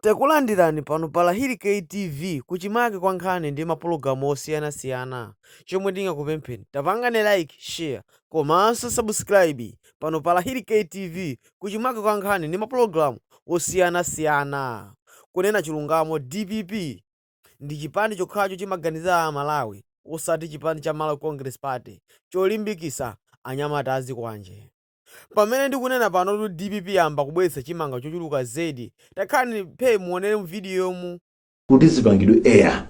Takulandirani pano pa Lahiri K TV kuchimake kwa nkhani ndi mapologalamu osiyana siyana chomwe tingakupempheni tapangani like, share komanso subscribe pano pa Lahiri K TV kuchimake kwa nkhani ndi mapologalamu osiyana siyana kunena chilungamo dpp ndi chipani chokhacho chimaganizira a Malawi osati chipani cha Malawi Congress Party cholimbikisa anyamata azikwanje. Pamene ndikunena panotu dpp yayamba kubweretsa chimanga chochuluka zedi. Takhalani phee muonere mu video mu. kuti zipangidwe air.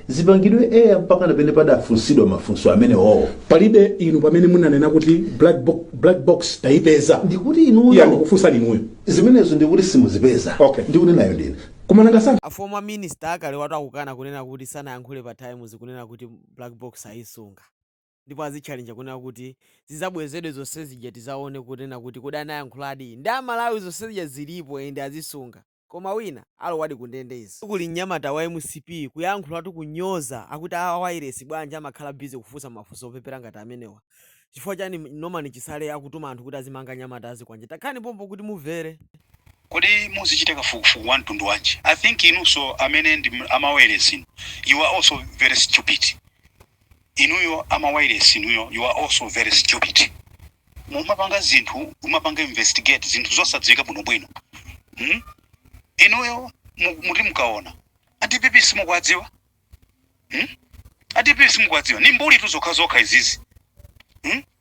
Zipangidwe air mpakana pena padafunsidwa mafunso amenewo? Palibe inu pamene munanena kuti black box, black box tayipeza. Ndikuti inuyo. Iya ndikufunsani inuyo. Zimenezo ndiye kuti simuzipeza. Okay. Ndikunenayo ndine. Koma nanga si. A former minister akalewatu akukana kunena kuti sanayankhule pa Times kunena kuti black box ayisunga. ndipo azitchalenja kunena kuti zizabwezedwe zonsezija tizaone kunena kuti kodi anayankhuladi ndi amalawi zonsezija zilipo and azisunga koma wina alowadi kundende izi kuli mnyamata wa mcp kuyankhulatu kunyoza akuti a wailesi bwanji amakhala busy kufunsa mafunso opepera ngati amenewa chifukwa chani norman chisale akutuma anthu kuti azimanga anyamata azikwanje takhani pompo kuti mumvere. Kodi muzichite kafukufuku wa mtundu wanji? I think inunso amene ndi amawayilesi inu, you are also very stupid. inuyo amawailesi inuyo you are also very stupid mumapanga zinthu mumapanga investigate zinthu zosadziwika bwinobwino hmm? inuyo mu- muti mukaona adpp simukuwadziwa hmm? adpp simukuwadziwa ni mbulitu zokhazokha izizi hmm?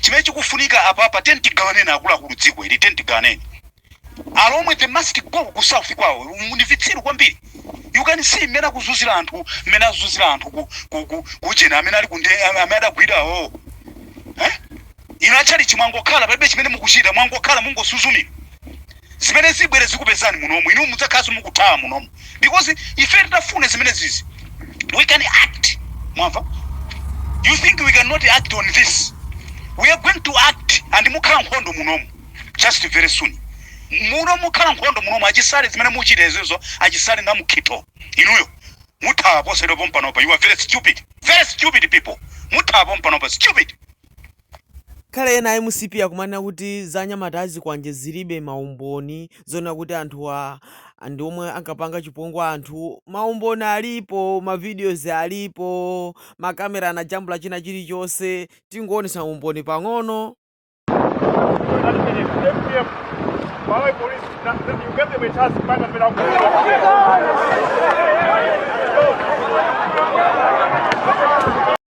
Chimene chikufunika apapa tiyeni tigawaneni akuluakulu dziko ili tiyeni tigawaneni. Alomwe they must go ku south kwawo ndi vitsiru kwambiri. You can see mmene akuzunzira anthu mmene azunzira anthu ku ku ku kujeni amene ali kundende amene adagwira awo. Eh? Inu atchalichi mwangokhala palibe chimene mukuchita mwangokhala mungosuzumira. zimene zibwere zikupezani munomu inu mudzakhalanso mukuthawa munomu because ife titafuna zimene zizi we can act mwamva you think we cannot act on this we are going to act and mukhala nkhondo munomu just very soon muno mukhala nkhondo munomu achisale zimene muchita izizo achisale na mukhitho inuyo muthawa posedwa pompanopa you are very stupid very stupid people muthawa pompanopa stupid Kale ena a mcp akumanena kuti za anyamata a zikwanje zilibe ma umboni zonena kuti anthuwa ndi omwe ankapanga chipongwe anthu. Ma umboni alipo, ma videos alipo, ma camera anajambula china chilichonse. Tingoonetsa umboni pang'ono.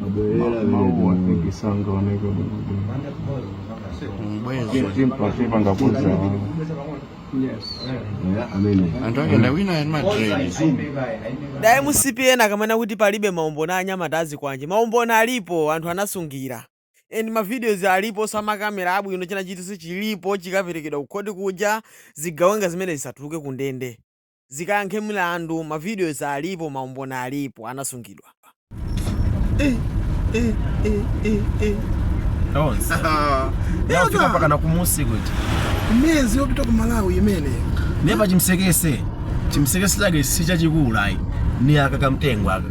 Mabwerera Mauwa. vile tikisanga wanaweka Mbwezo. timpati pangapunza amene Anthu ake ndawina ali Madrid. da mcp ena akumanena kuti palibe maumboni a anyamata azikwanje maumboni alipo anthu anasungira and mavideos alipo osa makamera abwino china chilichonse chilipo chikaperekedwa kukhoti kuja zigawenga zimene zisatuluke ku ndende zikayankhe milandu ma videos alipo maumboni alipo anasungidwa. Tonse. Yafika mpakana kumudzi kuti. Mwezi wopita ku Malawi imene. Neba chimsekese. Chimsekese chake si chachikulu ayi. Ni aka kamtengo aka.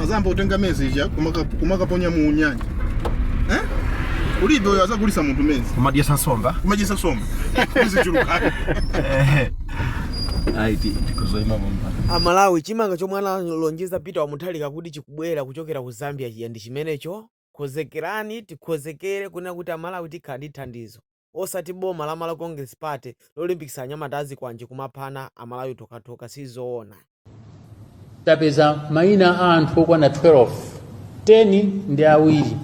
azayamba kutenga mezi ija kumaka- kumakaponya mu nyanja eh? kulibe uyo azagulisa munthu mezi kumadyesa nsomba kumadyetsa nsomba izichuluke ayi tikuzoima pampa amalawi chimanga chomwe analonjeza peter wamutharika kuti chikubwera kuchokera ku zambia chija ndi chimenecho konzekerani tikonzekere kunena kuti amalawi tikhala ndi thandizo osati boma la Malawi Congress Party lolimbikitsa anyamata azikwanje kumaphana amalawi tokhatokha sizoona. tapeza maina a anthu okwana 12 10 ndi awiri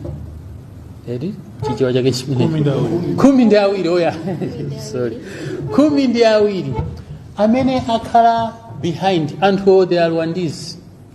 eti chichewa chake chimenecho khumi ndi awiri eya sorry khumi ndi awiri amene akhala behind anthu owo they are rwandizi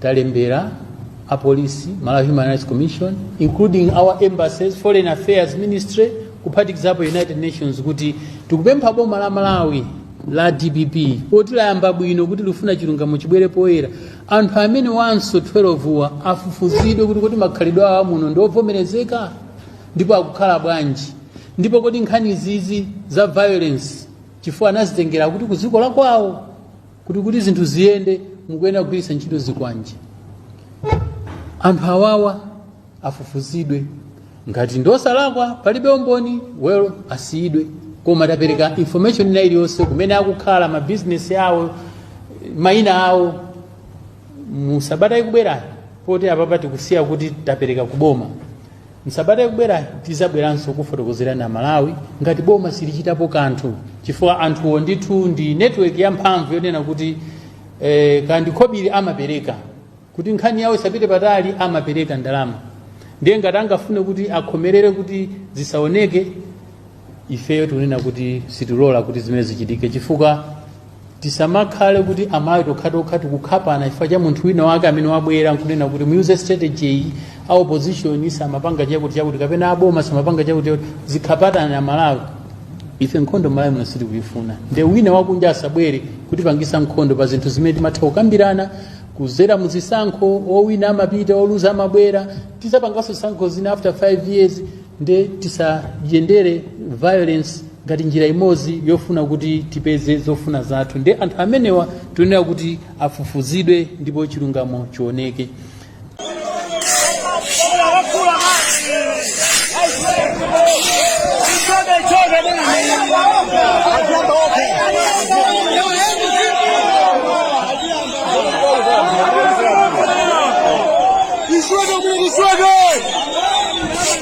talembera apolisi malawi human rights commission including our embassies foreign affairs ministry kuphatikizapo united nations kuti tikupempha boma la malawi la dpp poti layamba bwino kuti likufuna chilungamo chibwere poyera anthu amenewanso 12 wa afufuzidwe kuti kodi makhalidwe awo amuno ndi ovomerezeka ndipo akukhala bwanji ndipo kodi nkhani zizi za violence chifukwa anazitengera kuti ku dziko lakwawo kuti kuti zinthu ziyende mukuyenera kugwiritsa ntchito zikwanje anthu awawa afufuzidwe ngati ndosalakwa palibe umboni well asiyidwe koma tapereka information ina iliyonse kumene akukhala mabizinesi awo mayina awo musabata ikubwerayo poti apapa tikusiya kuti tapereka kuboma M'sabata ikubwerayi tizabweranso kufotokozera Amalawi ngati boma silichitapo kanthu chifukwa anthuwo ndithu ndi network yamphamvu yonena kuti eh, nkhani ndi khobidi amapereka kuti nkhani yawo isapite patali amapereka ndalama ndiye ngati angafune kuti akhomerere kuti zisaoneke ifeyo tikunena kuti sitilola kuti zimenezi zichitike chifukwa tisamakhale kuti amalawi tokhatokha tikukhapana chifukwa cha munthu wina wake amene wabwera nkunena kuti muyuze strategy iyi a opposition samapanga chakuti chakuti kapena aboma samapanga chakuti chakuti zikapatana malawi ife nkhondo malawi muno sitikuyifuna nde wina wakunja asabwere kutipangisa nkhondo pa zinthu zimene timatha kukambirana kuzera muzisankho owina amapita oluza amabwera tizapanganso zisankho zina after 5 years nde tisayendere violence ngati njira imodzi yofuna kuti tipeze zofuna zathu nde anthu amenewa tiyenera kuti afufuzidwe ndipo chilungamo chioneke